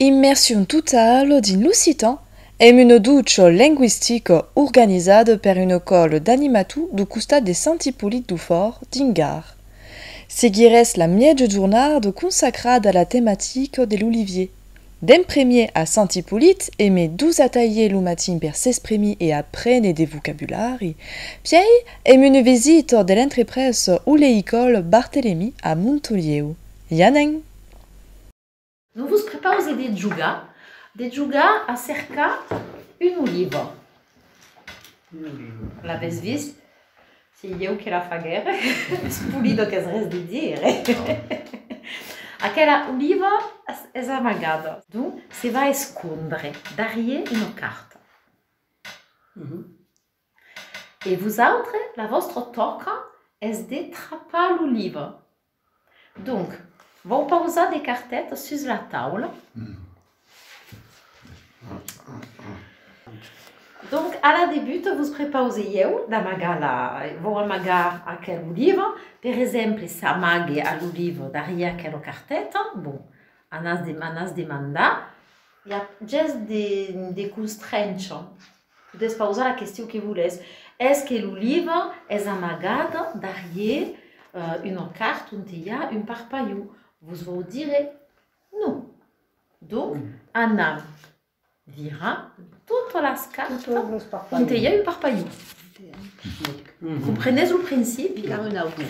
Immersion totale dins l'occitan amb un ducho lingüistic organizat per un còl d'animatu du costat de Sant Ipolit du Fòrt dins Gard. Seguirèss la mièja jornada consacrada a la tematica de l'olivier, D'en premier a Sant Ipolit e me dus atalhè lo matin per s'espremir e aprene de vocabulari. Pièi èm une visita de l'entrepresa Oléicole Barthelemy a Montolieu. I anem! Non vos prepause de jogar, de jogar a cercar un oliva. L'avètz vist? Se ieu que la faguère, es polido qu'es res de dire. Aquela oliva es amagada. Donc, se va escondre darrier una carta. E vosautres, la vòstra tòca es de trapar l'oliva. Donc, vau pausar de cartètas sus la taula. Donc, a la debut, vos prepausei ieu d'amagar la... vau amagar aquel livre. Per exemple, s'amague a lo livre darrier aquela cartèta. Bon, anatz demandar. I a ges de constrénher. Despausar la question que voles. Es que lo live es amagat darrier una cart onte i a un parpalho? Vos vau dire non. Donc, anam virar totas las cartas onte i a un parpalho. Comprenètz lo principi? Ficam un autre.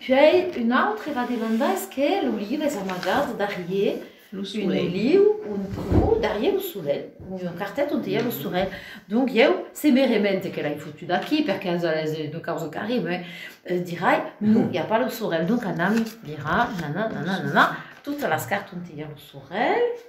Puèi un autre va demandar es que lo live es amagat darrier Lo solelh. Un oliu, un pro, darrier lo solelh, un cartet ont i a lo solelh. Donc ieu, se me remente que l'ai fotut aquí, per quinze a les de causa qu'arribe, dirai, non, i a pas lo solelh, donc anam virar, nana, nana, nana, totas las cartes ont i a lo solelh,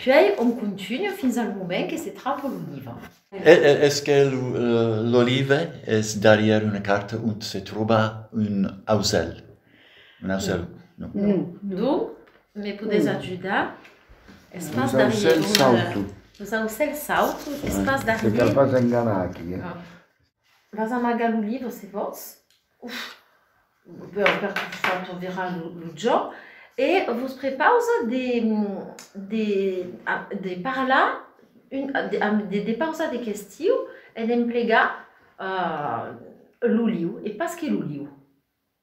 puèi on continua fins al moment que se trapa l'oliva. Es que l'oliva es darrier una carta ont se tròba un auselh. Merci. Non. D'on me podés ajudar? Es pas darrier un... Los aucèls sauto, es pas darrier... Te cal pas enganar aquí, eh? Vas amagar lo livre se vòls. Uf! Bon, per que fa ton virar lo jo. E vos prepausa de... de... de parlar un... de pausar de questiu e d'emplegar lo liu e pas que lo liu.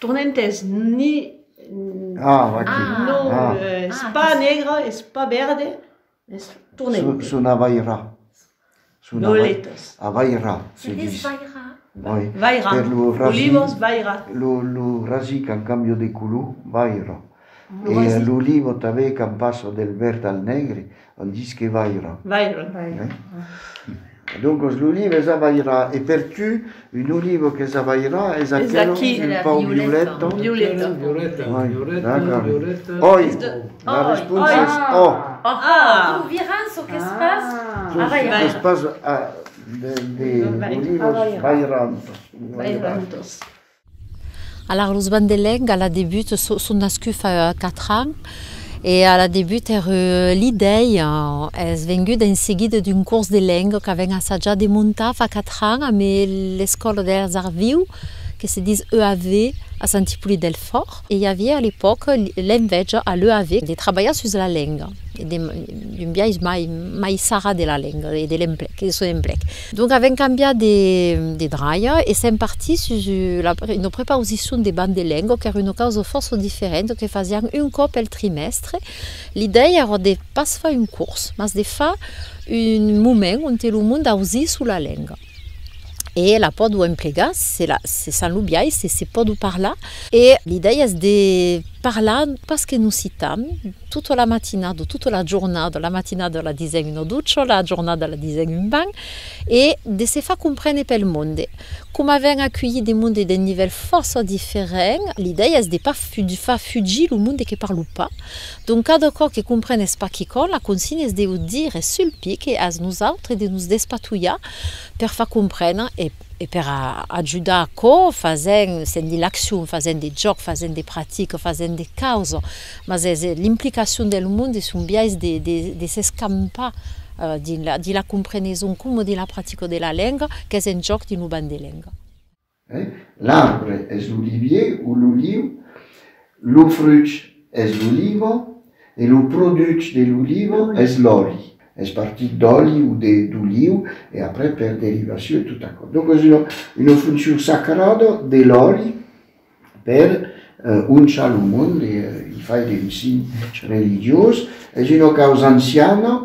Torna entès ni non es pas negre es pas verde es torna entès son avaira avaira se dis vaira olivos vaira lo rasic en cambio de color vaira E a lo livo tanben quand passa del verd al negre on dis que vaira. Vaira. Doncos lo livo es a vaira e per tu un olivo qu'es a vaira es aquel un pauc violeta. Violeta. Violeta. Oi. La responsa es ò. Deu virar çò qu'es pas a vaira. Çò qu'es pas a de olivos vairantos. Vairantos. Alara los bancs de lenga a la debut son nascuts fa 4 ans e a la debut era l'idèi es venguda en seguida d'un cors de lenga qu'avèm assajat de montar fa 4 ans amb l'Escòla dels Arts Vius que se dis EAV a Sant Ipolit del Fòrt e i aviá a l'epòca l'envèja a l'EAV de trabalhar sus la lenga d'un biais mai sarrat de la lenga e de l'emplec, de son emplec. Donc avèm cambiat de dralha e sèm partits sus una prepausicion de banc de lenga qu'èra una causa fòrça diferenta que fasián un còp pel trimèstre. L'idèia èra de pas far un cors, mas de far un moment ont lo mond ausís ula lenga e la pòdua emplegar, se s'an lo biais, se se pòdua parlar. E l'idèia es de parlar pas qu'en occitan, Tota la matinada, tota la jornada, la matinada la disèm una ducha, la jornada la disèm un banh, e de se far comprene pel monde. Coma avèm aculhit de monde d'un nivèl fòrça diferent, l'idèia es de pas far fugir lo monde que parlo pas. Donc cada còp que comprenes pas quicòm, la consigna es de ho dire sul pic e as nosautres de nos despatulhar per far comprene e. E per a ajudar aquò fasèm, sent de l'accion, fasèm de jòc, fasèm de practica, fasèm de causa, mas es l'implicacion del mond e son biais de de s'escampar dins la de la compreneson coma de la practica de la lenga qu'es en jòc dins lo banc de lenga. L'arbre es l'olivier o l'oliu Lo fruch es l'oliva e lo produch de l'oliva es l'òli. Es partit d'òli o de d'oliu e après per derivacion tot aquò. Donc es una una foncion sacrada de l'òli per onchar lo monde, i fai d'un sign religiós. Es una causa anciana.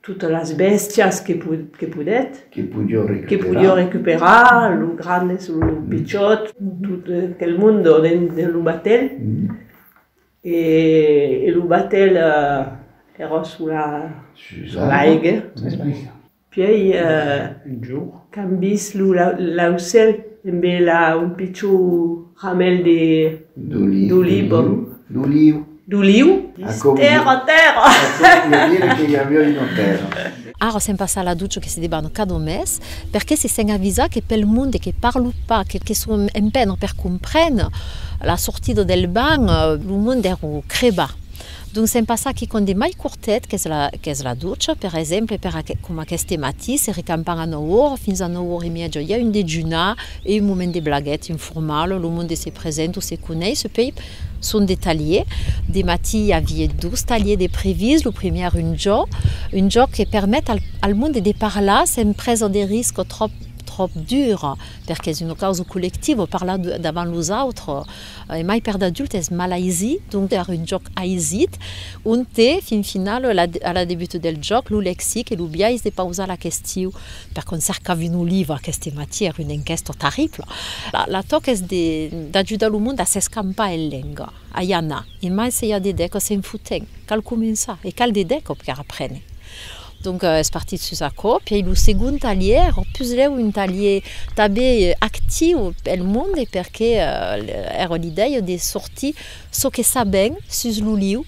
Totes las bèstias que podèt. Que podió recuperar. Que podió recuperar, los grandes, los pichòts, tot aquel monde dins de lo batèl. E lo batèl èra sus la. Sus l'aiga. Puèi qu'an vist lo laucèl embe la un picho ramèl de d'oliva d'oliu d'oliu dins tèrra tèrra vòl dire que i aviá una tèrra. Ara sèm pas a la ducha que se deban cada mes, perqué se sèn avisat que pel monde que parlo pas, que que son empènr per comprèn la sortida del banh, lo monde dèro crebar. D'on se'n passa quicòm de mai cortet qu'es la ducha, per exemple, per coma aqueste matí, se recampam a nòu ora, fins a nòu ora e mièja i a un dejunar e un moment de blaguèt informal, lo monde se present o se coneis, pei son de talhier, de matí i avié dos talhier de previst, lo primièr un jòc, un jòc que permet al monde de parlar sen presa de risc tròp tròp dura, perque's una causa collectiva, parlar davant los autres, E mai per d'adult es mal aisit, donc per un jòc aisit, onte fin finau a la debut del jòc lo lexic e lo biais de pausar la question, per quand cercavi un oliva aqueste matí èra una enquèsta terribla, la tòca es d'ajudar lo monde a s'escampar en lenga, a i anar, e mai se i a de deco se'n fotent, cal començar e cal de deco per aprene. Donc es partit sus aquò. Pièi lo segond talhièr, o puslèu un talhièr tanben actiu pel monde, perque èra l'idèia de sortir çò que sabèm sus l'oliu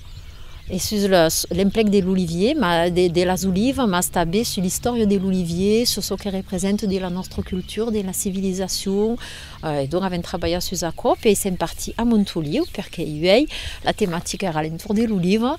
e sus l'emplec de l'olivier, de las olivas, mas tanben sus l'istòria de l'olivier, sus çò que representa de la nòstra cultura, de la civilizacion. E donc avèm trabalhat sus aquò. Pièi sèm partit a Montoliu, perque uèi la tematica èra a l'entorn de l'oliva.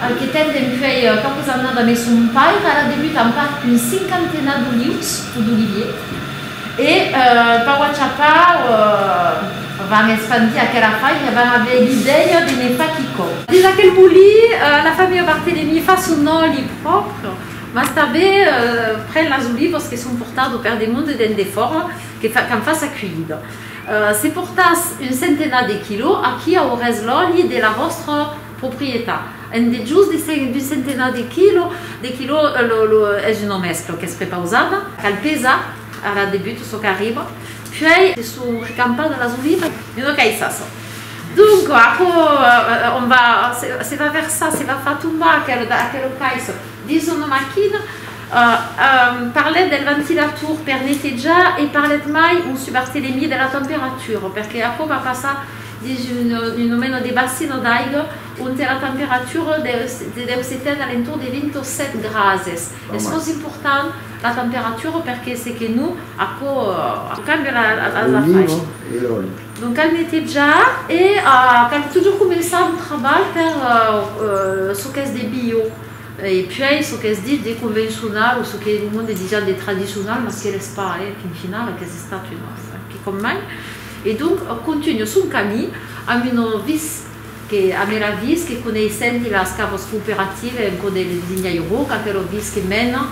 Al que ten dempuèi quauques annada mes son pair, ara debut en part un cinquantena d'olius o d'olivier, e pau a chapau van espandir aquera fai e van aver l'idèia de ne far quicò. Dins aquel molí, la familha Barthelemy fa son òli pròpre, mas tanben pren las olivas que son portado per demonde dens de fòra, qu'an fach sa cuilhida. Se portàs un centenat de quilò, aquí aurès l'òli de la vòstra. Proprietat. En dejús d'un centenar de quilò, de quilò es una mèscla qu'es prepausada. Cal pesar a la debut çò qu'arriba, puèi se son recampadas las olivas. De no caissas. Donc aquò on va, se va versar, se va far tombar aquel cais dins una maquina. Parlèt del ventilator per netejar e parlèt mai un subartelemier de la temperatura, perque aquò va passar. dins un nomeno de bassin d'aiga onte la temperatura deu se ten a l'entorn de 27 grases. Es fòrça important la temperatura perque se que non, aquò cambia las afaisas. Donc cal netejar e cal totjorn començar lo trabalh per çò qu'es de bio e puèi çò qu'es dit de convencional o çò que lo monde ditz ja de tradicional mas que l'es pas, eh, qu'en final aques estat un quicòm mai. E donc òc contunho son camí amb un viz que a m'era vist que coneissenti las cavas cooperative en poder le designar Roc, aquero viz que mena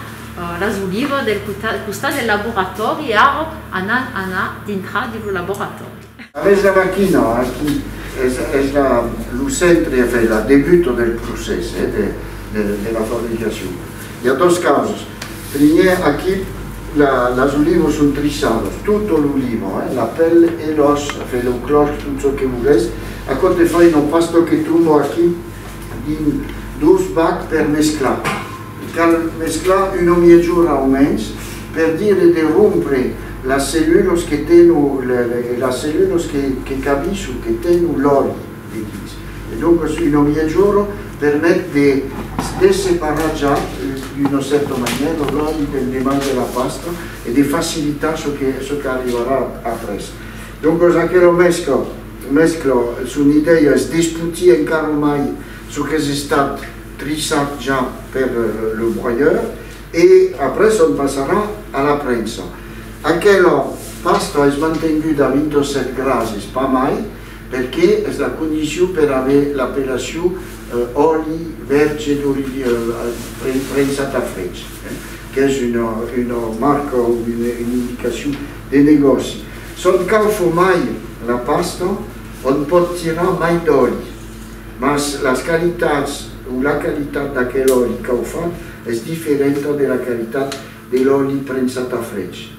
las olivas del costat del laboratòri e ara anam anar dintra de lo laboratòri. Aves era quina, aquí es la lo centre a fer la debuta del procès de la fabricacion. I a dos causas. Primièr aquip, las olivos son triçados, tot lo limon, la pèl e l'òs, afèi lo clòrch, tot çò que vogèis. Aquò te fai una pasta que tomba aquip dins dos bacs per mesclar. Cal mesclar una miègjora o mens per dire de rompre las cellulos que tènon, las cellulos que cabisso, que tènon l'òli. de dins. E doncas una viatjora permet de de separar ja d'una cèrta manièra lo ròtlli del deman de la pasta e de facilitar çò que çò qu'arribarà après. Doncas aquela mescla mescla son idèia es d'esputir encara mai çò qu'es estat trissat ja per le broyeur e après se'n passarà a la prensa. Aquela pasta es mantenguda a 27 grases, pas mai, Perqué es la condicion per aver l'appellation òli verge d'olivièr prensat a freg, qu'es una marca o una indicacion de negòci. S'ònt cau fomar la pasta, ònt pòt tirar mai d'òli, mas las qualitats o la qualitat d'aquel òli cau fat es diferenta de la qualitat de l'òli prensat a freg.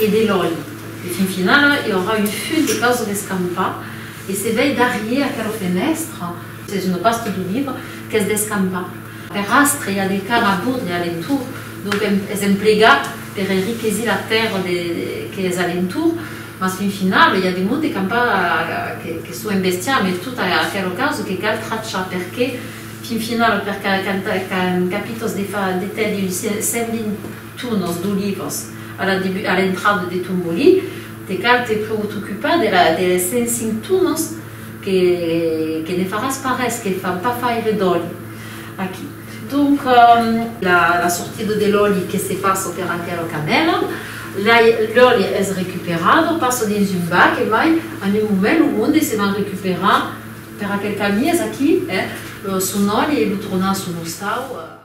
E de lòi. E fin finala i aurà un full de causas d'escampar e se vei darrier aquela fenèstra, es una pasta d'un libre qu'es d'escampar. Per astre i a de car a bord e a l'entorn, donc es emplegat per enriquesir la tèrra que es a l'entorn, mas fin finala i a de monde qu'an pas que çò en bestiar mai tot aquela causa que cal trachar perqué fin finala per qu'an capitas de tèlher un 120 Tunos, d'olivas, a la debu a l'entrada de Tombolí, te cal te preotocupar de la de les 105 tunos que que ne faràs pas res, que fan pas faire d'òli aquí. Donc la la sortida de l'òli que se passa per aquela canèla, la l'òli es recuperat, passa dins un bac, e mai en un moment lo monde se van recuperar per aquel qu'amies aquí, eh, son òli e lo tornar a son ostau.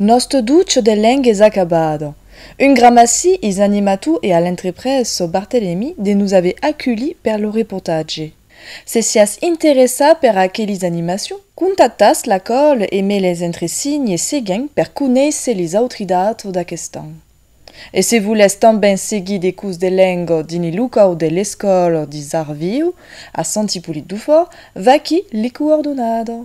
Nòste duc de leng es acabat. Un grammaci is animato e a l'entreprés so Barthelemy de nos aver aculhi per lo reportatge. Se siás interessat per aquelis animacion, contactas la còl e me les entresigne seguent per conéisser lis autri dato d'aquest an. E se volètz tanben seguir de curs de leng dins li locau de l'Escòl dis Arts Viu a Sant Ipolit Dufòrt, vaquí li coordonada.